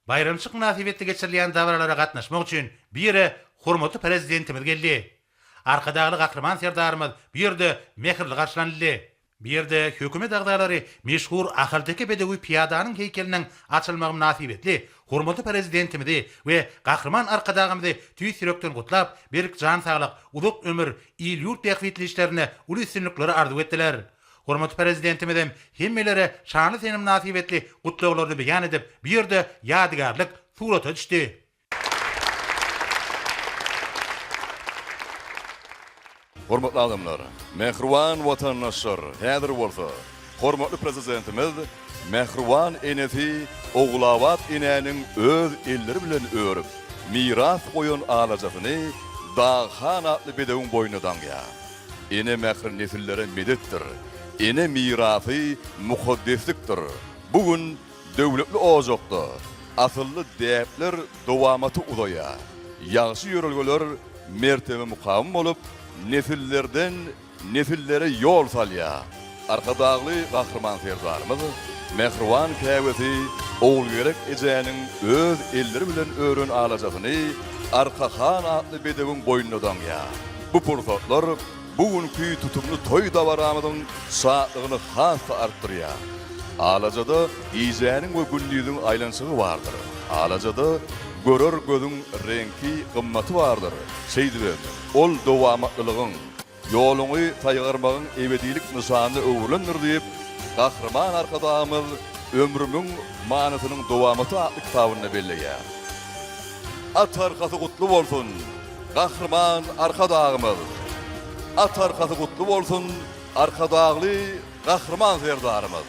Baýramçyk mynasybetli geçirilýän dabaralara gatnaşmak üçin bu ýere hormatly Prezidentimiz geldi. Arkadagly Gahryman Serdarymyz bu ýerde mähirli garşylanyldy. Bu ýerde Hökümet agzalary meşhur ahalteke bedewi pyýadanyň heýkeliniň açylmagy mynasybetli hormatly Prezidentimizi we Gahryman Arkadagymyzy tüýs ýürekden gutlap, berk jan saglyk, uzak ömür, il-ýurt bähbitli işlerinde uly üstünlikleri arzuw etdiler. Hormatly Prezidentimizem hemmelere şanly sene mynasybetli gutlaglaryny beýan edip, bu ýerde ýadygärlik surata düşdi. Hormatly adamlar, mähriban watandaşlar, häzir bolsa hormatly Prezidentimiz mähriban enesi Ogulabat enäniň öz elleri bilen örüp, miras goýan alajasyny Dagyhan atly bedewiň boýnuna daňýar. Ene mähri nesillere medetdir. Ene mirasy mukaddeslikdir. Bu gün döwletli ojakda asylly däpler dowamaty uzaýar. Ýagşy ýörelgeler mertebe-mukam bolup, nesillerden-nesillere ýol salýar. Arkadagly Gahryman Serdarymyz mähriban käbesi Ogulgerek ejäniň öz elleri bilen ören alajasyny Arka han atly bedewiň boýnuna daňýar. Bu pursatlar bu günki tutumly toý dabaramyzyň şatlygyny has-da artdyrýar. Alajada gijäniň we gündiziň aýlanyşygy bardyr. Alajada görer gözüň reňki, gymmaty bardyr. Şeýdibem, ol dowamatlylygyň. Ýoluňy saýgarmagyň ebedilik nyşanyna öwrülendir diýip, Gahryman Arkadagymyz Ömrümiň manysynyň dowamaty atly kitabynda belleýär. At arkasy gutly bolsun, Gahryman Arkadagymyz! At arkasy gutly bolsun, Arkadagly Gahryman Serdarymyz!